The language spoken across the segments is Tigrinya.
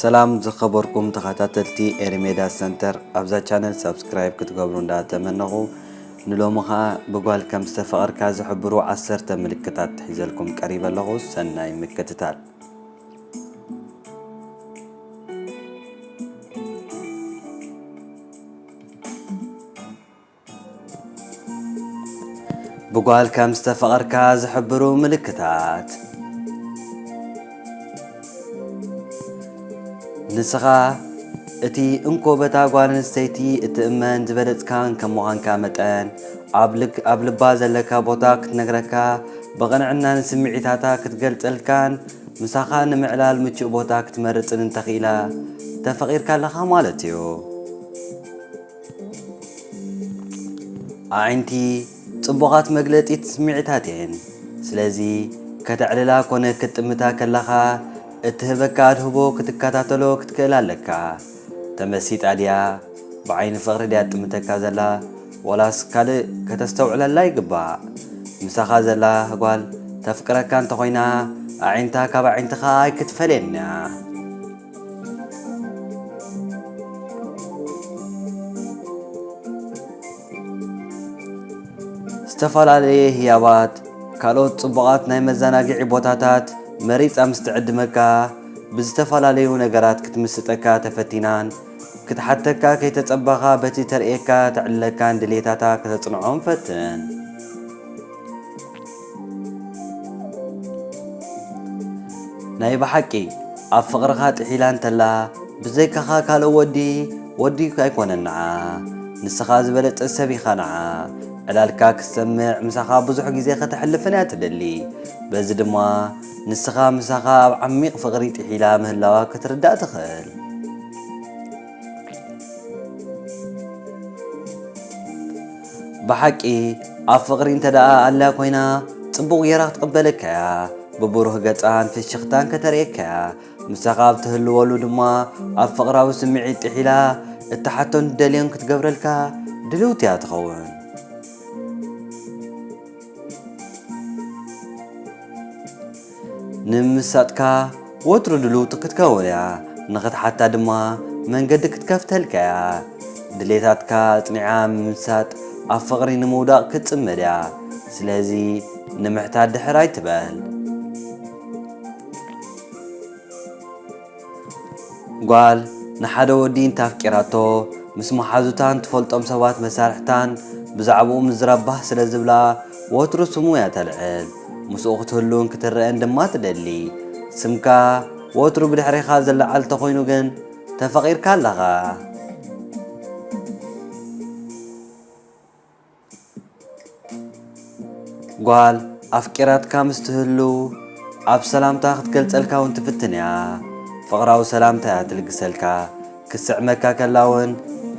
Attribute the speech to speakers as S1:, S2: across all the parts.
S1: ሰላም ዝኸበርኩም ተኸታተልቲ ኤሪሜዳ ሰንተር ኣብዛ ቻነል ሰብስክራይብ ክትገብሩ እንዳተመነኹ ንሎሚ ኸዓ ብጓል ከም ዝተፈቐርካ ዝሕብሩ ዓሰርተ ምልክታት ትሒዘልኩም ቀሪበ ኣለኹ ሰናይ ምክትታል ብጓል ከም ዝተፈቐርካ ዝሕብሩ ምልክታት ንስኻ እቲ እንኮ በታ ጓል ኣንስተይቲ እትእመን ዝበለጽካን ከም ምዃንካ መጠን ኣብ ልባ ዘለካ ቦታ ክትነግረካ ብቕንዕናን ስምዒታታ ክትገልጸልካን ምሳኻ ንምዕላል ምቹእ ቦታ ክትመርጽን እንተኽኢላ ተፈቂርካ ኣለኻ ማለት እዩ። ኣዒንቲ ጽቡቓት መግለጺት ስምዒታት እየን፣ ስለዚ ከተዕልላ ኮነ ክትጥምታ ከላኻ እትህበካ ኣድህቦ ክትከታተሎ ክትክእል ኣለካ። ተመሲጣ ድያ ብዓይኒ ፍቅሪ ድያ ትጥምተካ ዘላ ወላስ ካልእ ከተስተውዕለላ ይግባእ ምሳኻ ዘላ ጓል ተፍቅረካ እንተኾይና ኣዒንታ ካብ ኣዒንትኻ ኣይክትፈልየን እያ። ዝተፈላለየ ህያባት፣ ካልኦት ጽቡቓት ናይ መዘናግዒ ቦታታት መሪጻ ምስ ትዕድመካ፣ ብዝተፈላለዩ ነገራት ክትምስጠካ ተፈቲናን ክትሓተካ ከይተጸበኻ በቲ ተርእየካ ትዕልለካን ድሌታታ ከተጽንዖም ፈትን። ናይ ብሓቂ ኣብ ፍቕርኻ ጥሒላ እንተላ ብዘይካኻ ካልእ ወዲ ወዲ ኣይኮነን ንዓ ንስኻ ዝበለጸ ሰብ ኢኻ ንዓ ዕላልካ ክትሰምዕ ምሳኻ ብዙሕ ግዜ ከተሕልፍን እያ ትደሊ በዚ ድማ ንስኻ ምሳኻ ኣብ ዓሚቕ ፍቕሪ ጥሒላ ምህላዋ ክትርዳእ ትኽእል። ብሓቂ ኣብ ፍቕሪ እንተ ደኣ ኣላ ኮይና ጽቡቕ ጌራ ክትቕበለካ እያ ብብሩህ ገጻን ፍሽኽታን ከተርእየካ እያ ምሳኻ ኣብ ትህልወሉ ድማ ኣብ ፍቕራዊ ስምዒት ጥሒላ እትሓቶን ትደልዮን ክትገብረልካ ድልውቲ እያ ትኸውን ንምምሳጥካ ወትሩ ድልውቲ ክትከውን እያ፣ ንኽትሓታ ድማ መንገዲ ክትከፍተልካ እያ። ድሌታትካ ኣጽኒዓ ምምሳጥ ኣብ ፍቕሪ ንምውዳቕ ክትጽምድ እያ፣ ስለዚ ንምሕታት ድሕር ኣይትበል። ጓል ንሓደ ወዲ እንተ ኣፍቂራቶ፣ ምስ መሓዙታን ትፈልጦም ሰባት መሳርሕታን ብዛዕባኡ ምዝራብ ባህ ስለ ዝብላ፣ ወትሩ ስሙ እያ ተልዕል። ምስኡ ክትህሉን ክትረኣን ድማ ትደሊ። ስምካ ወትሩ ብድሕሬኻ ዝለዓል እንተ ኾይኑ ግን፣ ተፈቒርካ ኣለኻ። ጓል ኣፍቂራትካ ምስ ትህሉ ኣብ ሰላምታ ክትገልጸልካ ውን ትፍትን እያ። ፍቕራዊ ሰላምታ እያ ትልግሰልካ። ክትስዕመካ ከላ ውን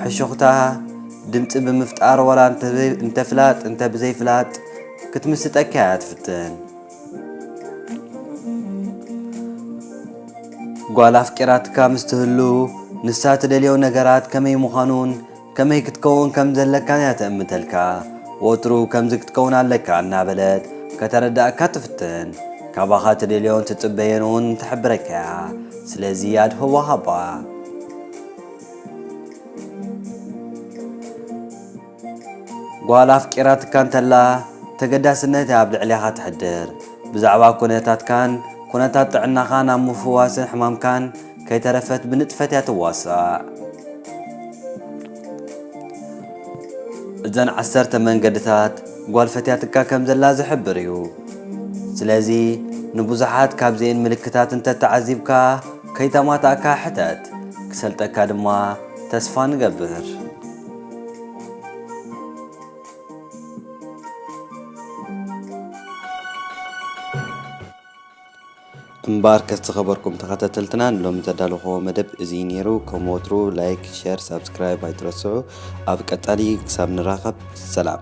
S1: ሕሹኽታ ድምጺ ብምፍጣር ዋላ እንተ ፍላጥ እንተ ብዘይ ፍላጥ ክትምስጠካ እያ ትፍትን። ጓል ኣፍቂራትካ ምስ ትህሉ ንሳ ትደልዮ ነገራት ከመይ ምዃኑን ከመይ ክትከውን ከም ዘለካን እያ ትእምተልካ። ወትሩ ከምዚ ክትከውን ኣለካ እናበለት ከተረድኣካ ትፍትን። ካባኻ ትደልዮን ትጽበዮን እውን ትሕብረካ እያ። ስለዚ ኣድህቦ ሃባ። ጓል ኣፍቂራትካ እንተላ ተገዳስነት እያ ኣብ ልዕሌኻ ተሕድር። ብዛዕባ ኩነታትካን ኩነታት ጥዕናኻን ኣብ ምፍዋስን ሕማምካን ከይተረፈት ብንጥፈት እያ ትዋሳእ። እዘን ዓሰርተ መንገድታት ጓል ፈትያትካ ከም ዘላ ዝሕብር እዩ። ስለዚ ንብዙሓት ካብዚኤን ምልክታት እንተተዓዚብካ ከይተማታእካ ሕተት፣ ክሰልጠካ ድማ ተስፋ ንገብር። እምበኣርከስ ዝኸበርኩም ተኸታተልትና ንሎሚ ዘዳለኹዎ መደብ እዚ ነይሩ። ከም ወትሩ ላይክ፣ ሸር፣ ሳብስክራይብ ኣይትረስዑ። ኣብ ቀጻሊ ክሳብ ንራኸብ ሰላም።